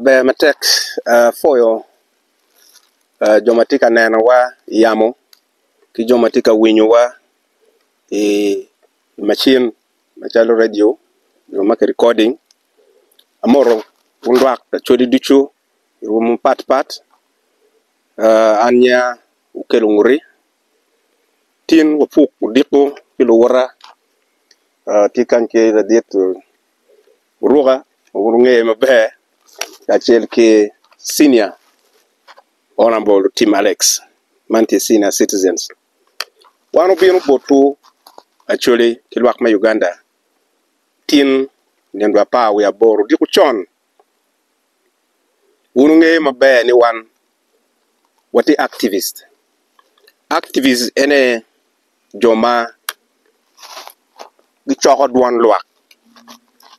Ber matek pwoyo jo ma tye ka nenowa i yamo ki jo ma tye ka winyowa i macin macalo redio nyo ma kirikoding. Amoto wun lwak lacwodi ducu i rwom mapatpat. Aniya wukelo ngoti, tin wapuk odiko ki luwote tye kany ki ladit. guruka wek gungeye maber kacel ki Senior Honourable Tim Alex man tye Senior Citizens wan obino botwu Acholi ki lwak me Uganda tin nge dwe apar wiye aboro odiko con wun wungeyo maber ni wan watye Activist, Activist en aye. jo ma gicoko dwon lwak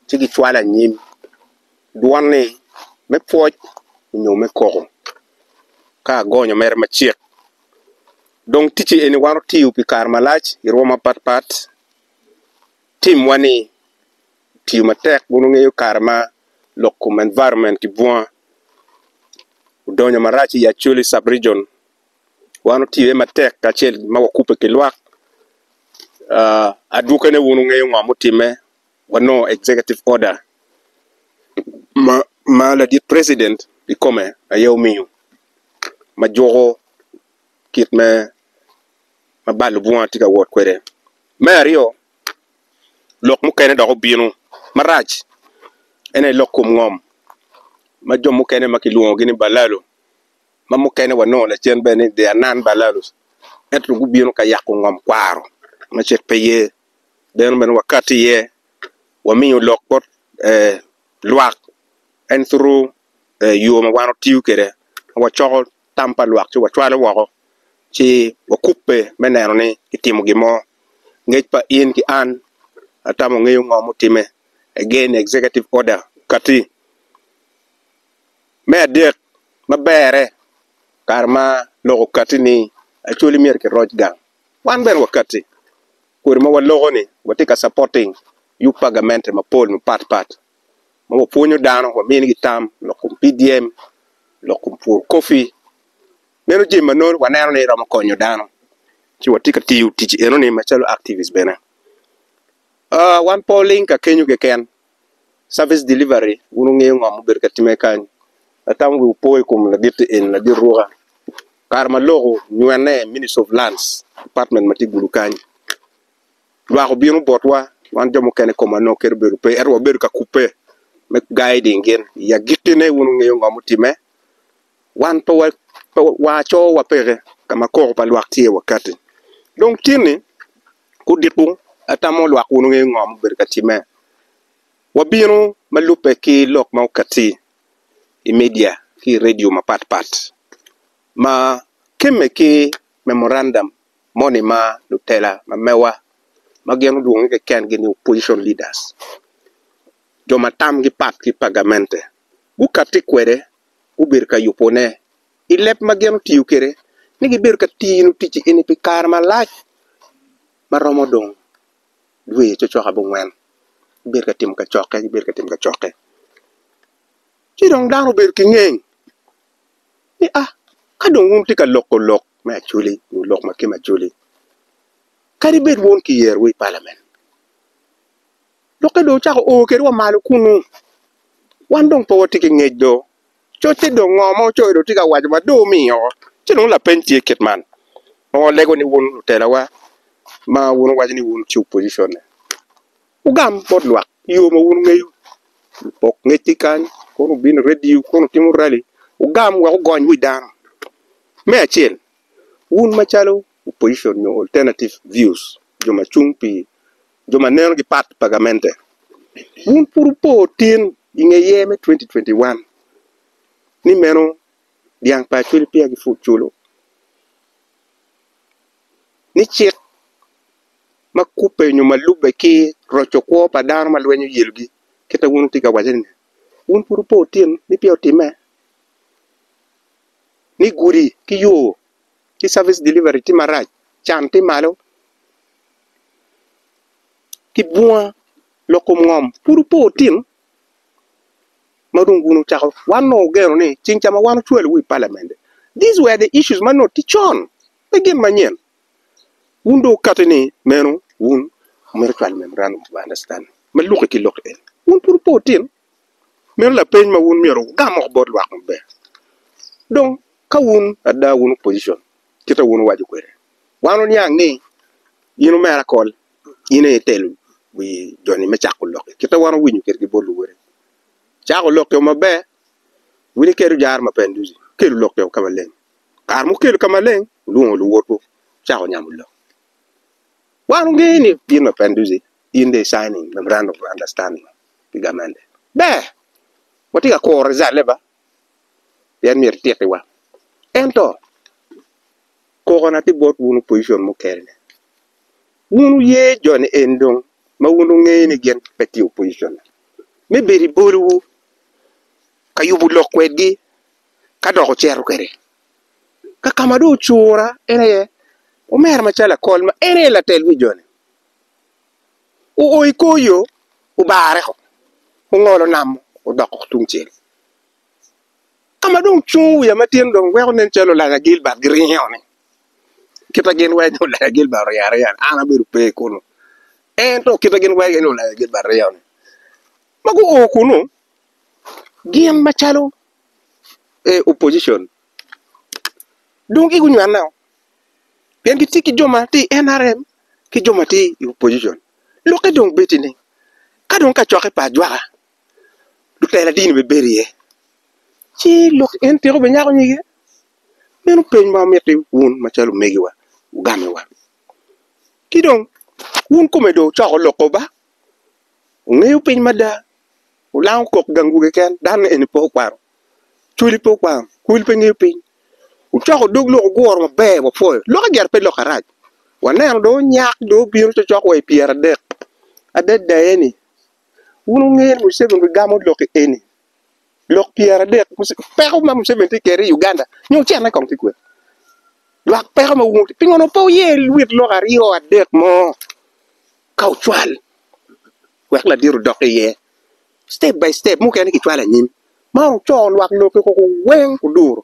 ci gicwalo anyim dwon-ni me pwoc nyo me koko ka agonyo mere macek dong ticci eni wan otiyo pi kare malac i rwom mapatpat timwa-ni otiyo matek wun wungeyo kare ma lok kom environment ki bunga odonyo marac i Acholi sub region. wan otye matek kacel ma wakubbe ki lwak adwokene wun wungeyo ngo ma otimme wanongo executive order ma ladit president kikome aye omiyo ma juko kit me ma bal obwunga tye ka wot kwede me aryo lok mukene dok obino marac ene lok kom ngom ma jo mukene ma kilwongogi ni balalo ma mukene wanongo lacen bene ni they are non balalus ento gubino ka yako ngom kwaro ma cik pe ye bino bene wakati iye wamiyo lok bot lwak en through yo ma wan watiyo kwede ma wacoko tam pa lwak ci wacwalo woko ci wakubbe me neno ni kitimo gin mo ngec pa in ki an atamo ngeyo ngo mutimme again executive order okati. Me adek, ma berre, kare ma lok okatti ni Acholi myero kiroc gang, wan bene wakatti kodi ma waloko-ni watye ka capoting yub pa gamente mapol mapat pat ma wapwonyo dano, waminigi tam lok kom PDM, lok kom pur kopi. Meno jami ma nongo waneno ni romo konyo dano ci watye ka tiyo tic enoni macalo activist bene. Wan pe waling ka kenyo keken service delivery wun wungeyo ngo ma obedo ka timme kany, atamo wi wupo i kom lagit-ti eni ladit ruka, kare ma lok onywene ministry of lands department ma tye gulu kany, lwak obino botwa wan jo mukene i koma nongo kadi obedo pe ento wabedo ka kubbe me guiding gin i agikine wun wungeyo ngo ma otimme, wan pe wa pe wa cowa peke ka ma koko pa lwak tye wakati dong tye ni Gudiku atamo lwak wun wungeyo ngo ma obedo ka timme. Wabino ma lubbe ki lok ma okatti i media ki i redio mapat pat ma kemme ki memorandum moni ma lutela ma mewa ma gin olwongi keken gi ni opposition leaders jo ma tamgi pat ki pa gamente gukatti kwede gubedo ka yubone i leb ma gin otiyo kwede ni gibedo ka tino ticci eni pi kare malac ma romo dong dwe cokcok abongwen gibedo ka timo kacokke gibedo ka timo kacokke ci dong dano obedo ki ngeng ni a ka dong wun wutye ka loko lok me acwali nyo lok ma kema acwali kadi bed wun kiyerowu i palamen lokke dong ocako o kwedwa malo kunu wan dong pe watye ki ngec do. Coc ci dong ngo ma ocoyo dong tye ka waco ma dong omiyo ci dong lapeny tye kit man ma walego ni wun lutelawa ma wun wuwaco ni wun ci opposition-ne wugam bot lwak yo ma wun wungeyo wok ngecci kany kono wubin i radio kono wutimo rali wugam wek wugony wi dano me acel wun macalo opposition nyo alternative views jo ma cung pi jo ma nenogi pat pa gamente. Wun pud wupo tin i nge yer me 2021 ni meno dyang pa acwele peya gipwod culu, ni cik ma kubbe nyo ma lubbe ki roco kwo pa dano ma lweny oyelogi kit ma wun wutye ka waco ni-ni, wun pud wupo tin ni peya otimme? Ni gudi ki yo ki service delivery tye marac, can tye malo ki bunga lok kom ngom pud wupo wutino ma dong wun wucako wan onongo wugeno ni ceng ca ma wan ocwalo wu i palament this were the issues ma nongo tye con pe gin manyen wun dong wukati ni meno wun omyero wucwal memorandum of understanding ma luki ki lok eni wun pud wupo wutino. Meno lapeny ma wun myero wugam woko bot lwak maber. Dong, ka wun ada wun opposition, kit ma wun wuwaco kwede, wan wuniang ni in omer akol, in aye itelo wi joni me cako lok-ki, kit ma wan wuwinyo kwede ki bot luwote. Cako lok-ki o maber, wun ikelo jaro ma peya nuti, wukelo lok-ki o ka maleng. Kare ma wukelo ka maleng, wulwongo luwotwu wucako nyamo lok. Wan wungeyo ni gin ma peya nuti. in dong i-signing memorandum of understanding ki gamente. Ber! Watye ka kuro rizalne ba, pien myero etitiwa. Ento, kokona ki bot wun opojicon mukene-ni, wun wuye joni eni dong ma wun wungeyo ni gin pe tye opojicon, me bedo i bolowu ka yubo lok kwedgi ka dok wucito kwede ka ka ma dong ocura en aye omera macalo akol ma en aye latel me joni. oo i kor yo obarre o ongolo nam odoko tungcel ka ma dong ocungo wiye matin dong weko nen calo olanya Gilbert giringo ni kita gin weng olanya Gilbert oringo aringa ni an abedo pe kunu en to kita gin weng en olanya Gilbert ringo ni ma gu oo kunu gin ma calo opposition dong gi gunywene o. pien gitye ki jo ma tye i NRM ki jo ma tye i opposition lokke dong bedo ni ka dong kacokke pa ajwaka lutela dini bene bedo iye ci lok en tyeko bene nyako nyige meno peny ma omiti wun macalo omegiwa wugamiwa ki dong wun kome dong ocoko loko ba wungeyo piny mada wulango kok gang dwogi keken dano eni pe okwano. cwinyi pe okwang cwinyi pe ngiyo piny wucoko dog lok wuguro maber wapwoyo lok idyere pe lok arac waneno dong onyak dong obino cokcok wa i pyeradek adada eni wun wunge ni Museveni gigamo loki eni lok pyeradek peko ma Museveni tye kwede i Uganda nyo ocene kong tye kwede lwak peko ma wun pingo pe wuyer lok aryo adek mo ka wucwal. wek ladit odok iye step by step mukene kicwalo anyim ma onongo co lwak lokke koko weng oduro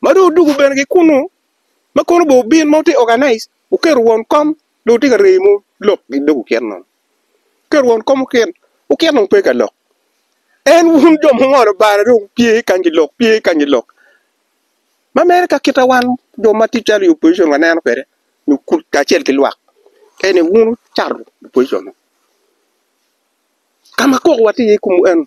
ma dong odwogo bene ki kunu ma kono bene obin ma tye organize oketo won kom dong otye ka remo lok ki dog oket nono oketo won kom oket oket dong pe ka lok en wun jo mungolo bal dong wupye kany ki lok pye kany ki lok ma mere ka kita wan jo ma tye calo i opposition wa neno kwede nyo kuc kacel ki lwak ka eni wun wucato opposition nongo ka ma koko watye iye kumu eno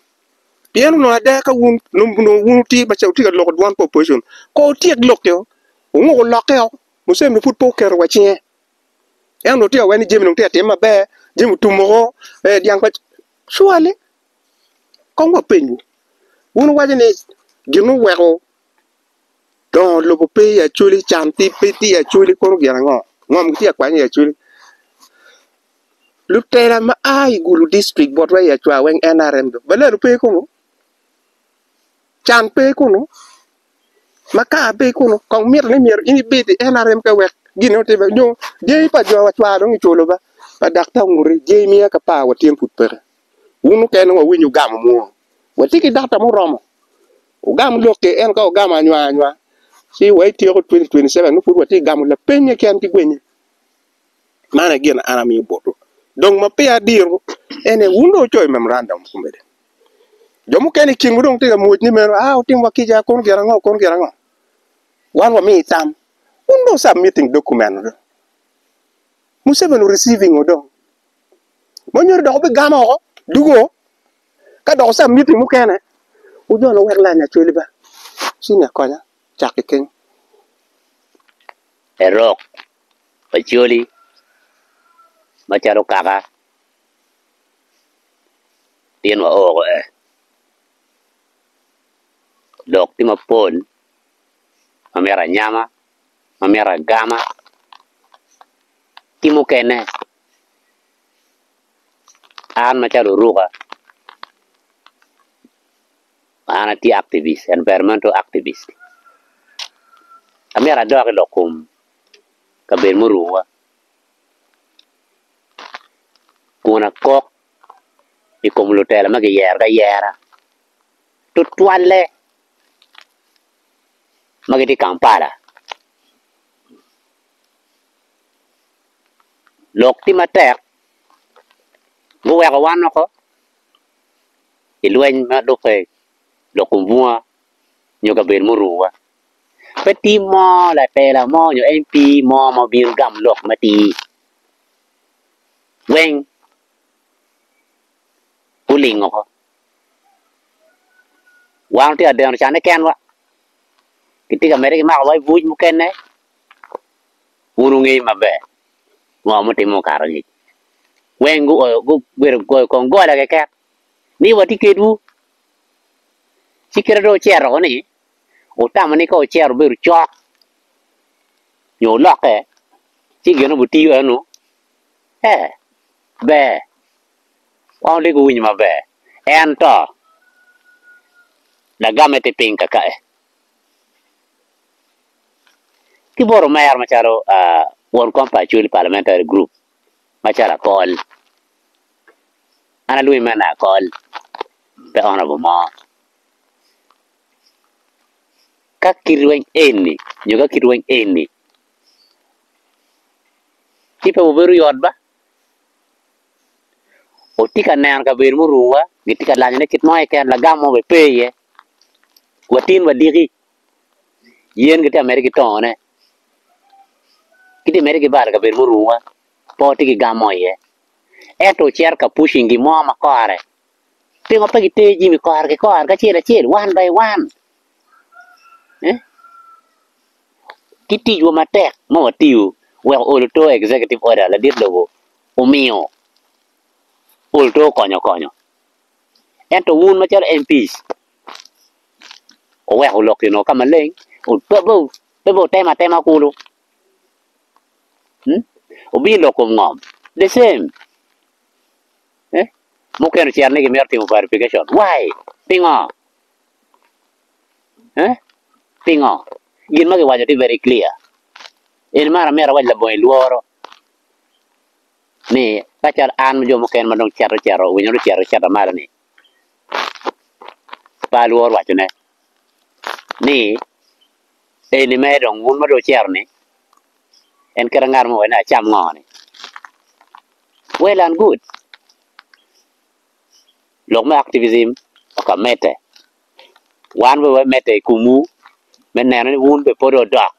pien onongo ada ka wun nongo nongo wun wutye ma wutye ka loko dwan pa opposition kong wutyek lokio wunguk wulokke o Museveni pud pe oketo wa cinge en onongo tye ka wero ni jami onongo tye ka timme maber jami otum woko ee dyang pa surely. Kong wapenyu, wun wuwaco ni, 'Gin muweko dongo lobo pe i Acoli, can pe tye i Acoli kono gin ango? Ngom gitye ka kwanye i Acoli? Lutela ma a i Gulu distrik botwa i Acwa weng, nrm dong baladu pe kunu? Can pe kunu? Makar pe kunu? Kong miti ni myero in ibed i nrm ka wek gin meno otimme nyo dyangi pa jo wa Acwa dong iculo ba, pa dakta onguti, dyangi miya ka par wa tyen pud peke. Wun mukene dong wawinyo wugamo muru. Watye ki dakta muromo. Wugam lokke. Ento ka wugamo anywang anywang ci wa ityeko two thousand twenty seven nongo pud watye ka gamo lapenye keken ki gwenye. Man aye gin an amiyo botwu. Dong ma peya adiro en aye wun dong wucoyo memorandum komede. Jo mukene i kinwu dong tye ka mwocni meno aa wutimwa kica kono gin ango kono gin ango. Wan wamiyi tam. Wun dong wu submitting document-nu dong. Museveni o receiving-o dong. ma onyodo dok obigam oko dugo ka doko ca miti mukene wudong wek lanya cwali ba ci nge konya cak ki keny. Erok pa cwali ma calo kaka in wa oko eh dok tye mapol ma myero anyama ma myero agama ki mukene. An macalo Oruka, an atye activist, environmental activist. Amyero adok i lok kom kabedo muruwa kun akok i kom lutela ma giyero ki ayera tutwalle ma gitye i Kampala. lok tye matek guweko wan oko i lweny ma lube lok kom bunga nyo kabedo ma oruu wa pe tim mo latela mo nyo MP mo ma obino gamo lok matir weng guling oko wan watye ka deno cane kenwa kitye ka mede ki mako wa i buc mukene. Wun wungeyo maber ngo mutimo okato ngic. Weng gubedo goyo kong gola keken ni watye kedwu. Ci kit ma dong wucito woko ni, wutamo ni ka wucito wubedo cok nyo wulokke ci gin ma wutiyo enonu ee ber wan wodoko wuwinyo maber. Ento lagamme tye piny kakae. ki bot omera macalo won kom pa Acholi Parliamentary Group macalo Akol, an alwongi mana ni Akol pe honourable mo, ka kit rweny eni nyo ka kit rweny eni ci pe wabedo yot ba, watye ka neno kabedo muruwa gitye ka lanyone kit mo keken lagam mo bene pe iye, watin wadiki. Yen gitye ka medde ki tongone, gitye ka medde ki bal i kabedo ma orumowa, pe watye ki gam mo iye. Ento ocito ka pucing gin mo ma kore, pingo pe gitero jami kore ki kore ki acel acel, one by one? Eeh? Ki ticwa matek ma watiyo wek ool oto executive order ladit lobo omiyo, ool oto okonyo okonyo. Ento wun macalo MPs, wuweko lok gin o ka maleng, pe wutemo atema kulu, wubino lok kom ngom, the same, mukene ocito ni gimito timo verification, why? Pingo? Pingo? Gin ma giwaco tye very clear, eni mara myero awac labongo ilworo. ni ka cal an ki jo mukene ma dong cito cito owinyo dong ocito cito malo ni pe alwor waco ne ni eni mere dong wun ma dong wucito ni en kit angat mo wene acam ngo ni well and good lok me activism oko amedde wan bene wamedde i kom wu me neno ni wun bene pwod odok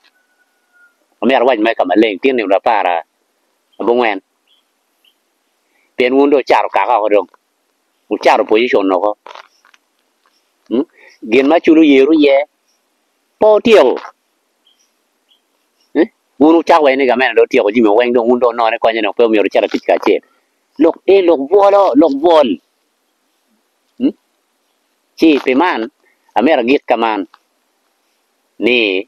amyero awac mere ka maleng tye nino apara abongwen pien wun dong wucato kaka woko dong wucato position woko mm gin ma culu yerwu iye pe wutyeko mm wun wucako waci ni gamente dong otyeko jami weng dong wun dong wunone konye dong pe myero wucit atic kacel lok ee lok bwolo lok bwol mm ci pi man amyero agik ka man ni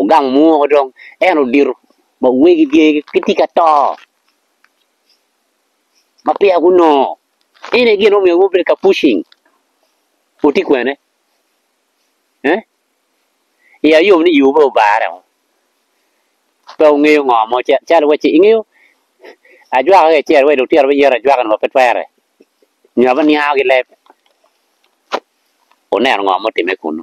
Ogang mwoko dong en odito ma wegi gitye ka to ma peya gunongo ene gin ma omiyo gubedo ka pucing wutye kwene ee i ya yom ni yoo pe obare oo pe wungeyo ngo mo calo waci ingeyo ajwaka ki acel wai lutino biyero ajwaka ni wa pe twere nyo abininga ki leb wuneno ngo ma otime kunu.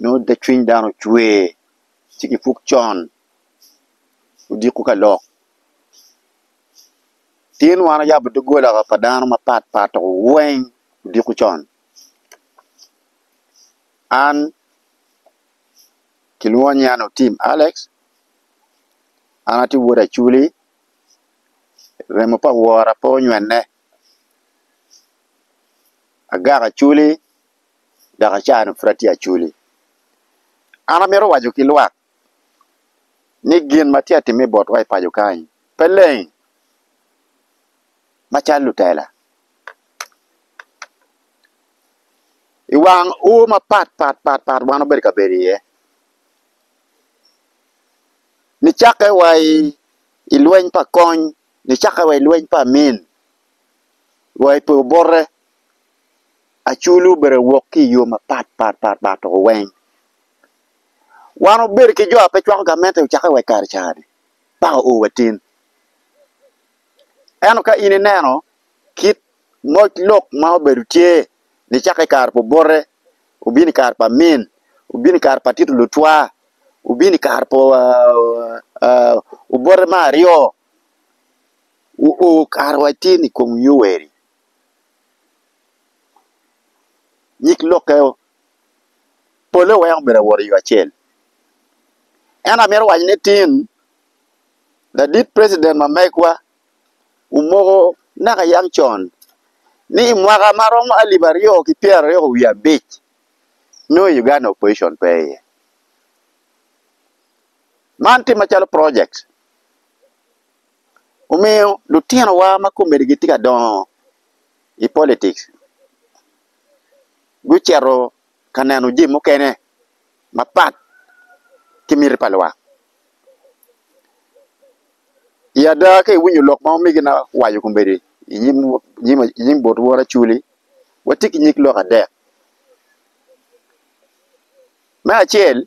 nongo te cwiny dano cwer ci kipwog con odiko ka lok tin wan ayabo dogola pa dano mapat pat dok weng odiko con an kilwonga ni an Otim Alex an atye wod Acoli remo pa wora pe onywene agak Acoli dok acannu pud atye aculi. An amito waco ki lwak ni gin ma tye ka timme botwa i paco kany pe leng macalo lutela. I wang ur mapat pat pat pat wan wabedo ka bedo iye, nicakke wa i lweny pa kony, nicakke wa i lweny pa amin, wa i poyo bote. Aculu obedo wok ki iyo mapat pat pat pat toko weng. Wan obedo ki jo ape cwako gamente ocake wek kare cani paka o wa tin. Eno ka in ineno kit moc lok ma obedo tye ni cako i kare pa obote, obino i kare pa min, obino i kare pa tito lutwa, obino i kare pa obote me aryo, o o kare wa tin i kom yoweri. Nyig lokke pole weko myero owot iyo acel ento amito waco ni tin ladit president ma megwa omoko naka yam con ni i mwaka ma romo alip aryo ki pyera aryo wiye abic nongo i Uganda opposition pe iye man tim macalo project omiyo lutinowa ma komedi gitye ka dongo i politics gucito ka neno jami mukene mapat ki miti pa lwak i ada ka iwinyo lok ma omege na owaco komedi i nyim but woro Acholi watye ki nyig lok adek me acel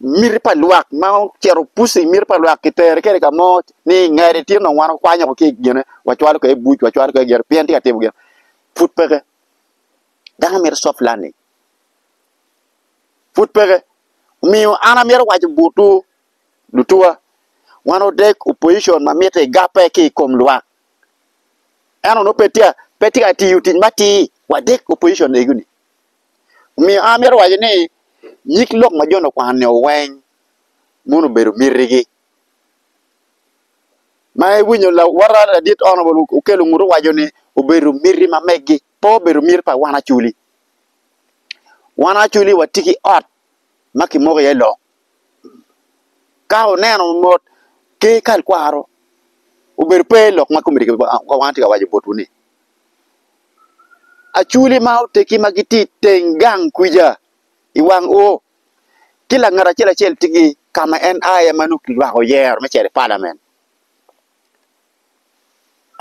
miti pa lwak ma ocito puc-ci i miti pa lwak kitere kede ka mo ni i ngete tye nongo wan wakwanyo woko ki i gine wacwalo kwede buc wacwalo kwede gire pien tye ka timo gin pud peke dano mito soft landing pud peke omiyo an amito waco botwu lutuwa wan odeg opposition ma mitte igape ki i kom lwak ento nongo pe tye ka tiyo tic matir wadeg opposition ego-ni. Omiyo an amito waco ni nyig lok ma jo-ni okwano nio weng mono obedo mitigi. Ma iwinyo lawota ladit Honourable Okello Nguto owaco ni obedo miti ma megi, pe obedo miti pa wan Acholi. Wan Acholi watye ki ot ma kimoko iye lok. Ka oneno mot ker kal kwaro obedo pe lok ma komedo kit ma wan watye ka waco botwu-ni. aculi ma oteggi ma gitye i teng gang kwica i wang O ki langat acel acel tye ki ka ma en a iye ma nongo kirwako yero me cito i palamen.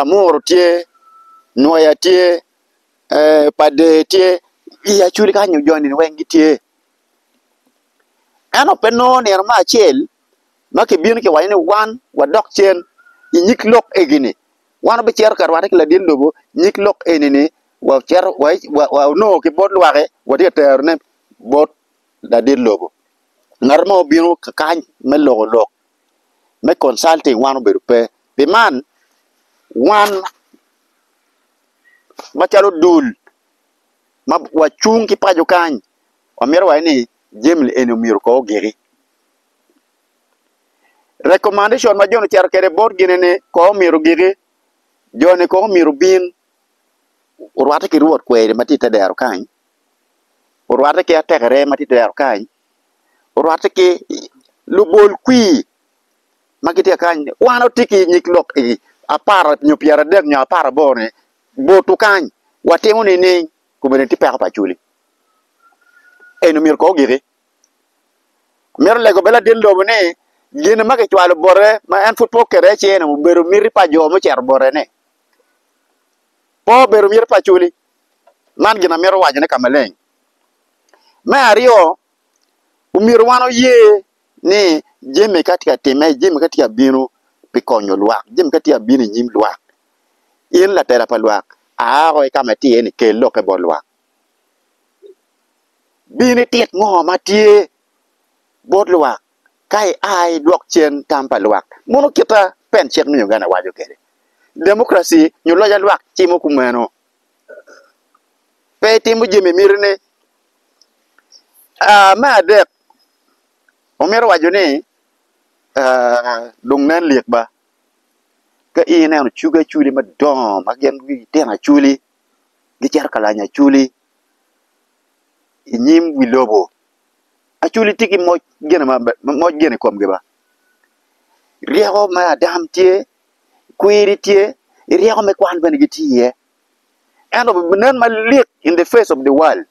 Amuru tye, Nwoya tye, Pader tye i aculi kany nyo jo nino weng gitye. Ento pe nongo nino me acel ma kibino kiwaco ni wan wadok cen i nyig lok egini. Wan wabicito ka rwatte ki ladit lobo nyig lok eni-ni, wa onongo ki bot lwaki watye ka terone bot ladit lobo. Ngat mo obino kany me loko lok me consulting wan obedo pe. Pi man wan macalo dul ma wacung ki paco kany wamito waci ni jami eni myero kong ogiki. Recommendation ma joni oceto kede bot gine ni kong omyero giki joni kong omyero obin orwate ki rwot kweri ma tye i te dero kany orwate ki atekere ma tye i te dero kany orwate ki lubol kwir ma gitye ka kany ni wan watye ki nyig lok apar nyo pyeradek nyo apar aboro ni botu kany watimo nining kome ni tye peko pa Acholi eni omyero kong ogiki. Amito lego bene ladit lobo ni gin ma kicwalo bote ma en pud pe okete iye cene obedo miti pa jo mucito botene. Pe obedo miti pa culi man gin amito wacone ka maleng. Me aryo omyero wan oye ni jami ka tye ka timme jami ka tye ka bino pi konyo lwak jami ka tye ka bino inyim lwak in latela pa lwak a woko ki ka ma itye ni kel lokke bot lwak. Bin itit ngo ma tye bot lwak ka ia idwok cen tam pa lwak? Mono kita pen cik me Uganda waco kede? Democracy nyo loc a lwak cimo kumeno. Pe itimo jami imito ni. Aa me adek, omito waco ni aa dong nen lik ba ka ineno cugi aculi madongo ma gin gitino aculi. gicito ka lanya Aculi i nyim wi lobo. Aculi tye ki moc gin i komgi ba, ryeko me adam tye, kwiri tye, ryeko me kwan bene gitye iye. Ento binen malik in the face of the world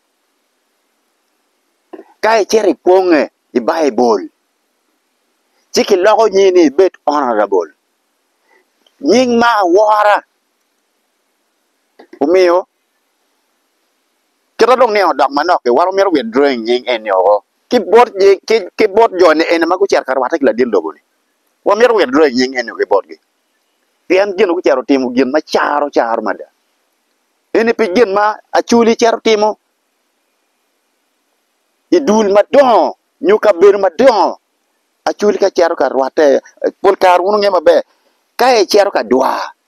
ka icito ipwonye i Baibul ci kiloko nyingi ni ibed honourable, nying ma awora. Omiyo, kit ma dong niang odok manok-ki, wan wamito wek dwong i nying En-ni woko ki bot jo nienne ma gucito ka rwatte ki ladit lobo-ni. Wamito wek dwong i nying En-ni woko ki botgi, pien gin-ni gucito timo gin ma caro caro mada. Eni pi gin ma Acholi cito timo i dul madongo nyo kabedo madongo. Acholi ka cito ka rwatte, pol kare wun wungeyo maber, ka ecito ka dwar,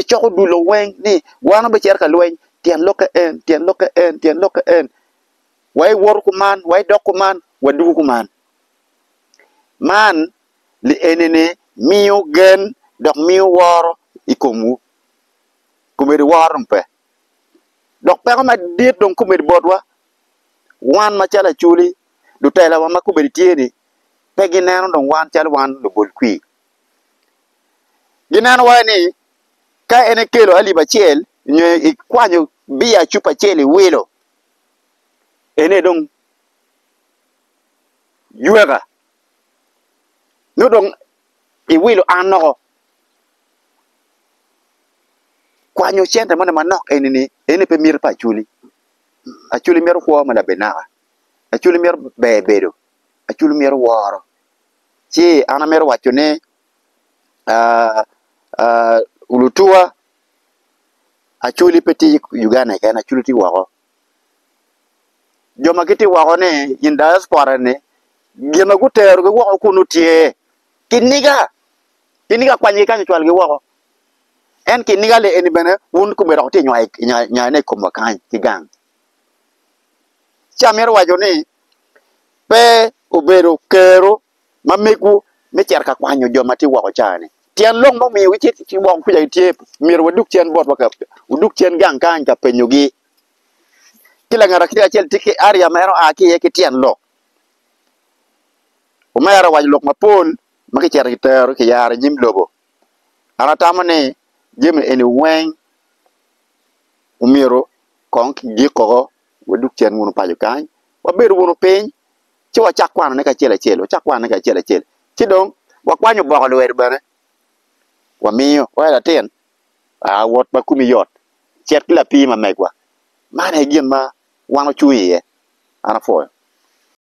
Icoko dul lo weng ni wan obicito ka lweny tyen lokke en, tyen lokke en, tyen lokke en. Wa iwoto kuman, wa idok kuman, wadwogo kuman. Man li enene miyo gen dok miyo woro i komwu. Komedi woro dong pe. Dok peko madit dong komedi botwa. Wan macalo acoli, lutelawa ma komedi tye-ni pe gineno dong wan calo wan lubol kwir. Gineno wai ni ka en ekelo alip acel nyo ikwanyo biya cupa acel iwilo ene dong yweka nyo dong iwilo an noko kwanyo cente moni manok eni ni ene pe miti pa acholi, acholi mito kwo ma labinaka, acholi mito ber bedo, acholi mito woro. ci an amito waco ni lutuwa acwali pe tye i Uganda keken acwali tye woko jo ma gitye woko ni in diaspora ni gin ma gutero gi woko kunu tye kiniga kiniga akwany gi kany ocwal gi woko en kiniga ni eni bene wun kome dok tye nywayone i komwa kany ki gang ci amito waco ni pe obedo kero ma megwu me cito ka kwanyo jo ma tye woko cawa ni tyen lok ma omiyo gitye ki woko kuca gitye myero wadug cen bot wa odug cen gang kany ka penyo gi ki langat acel acel tye ki area ma en oa ki iye ki tyen lok omera owaco lok mapol ma ki cito ki tero ki yaro inyim lobo an atamo ni jami eni weng omyero kong ki gik koko wadug cen wunu paco kany wabed wunu piny ci wacak kwanone kacel acel wacak kwanone kacel acel ci dong wakwanyo boko lwedo bene wamiyo ka en latin aa wot ma komi yot cet ki lapii ma megwa man aye gin ma wan ocung iye an apwoyo.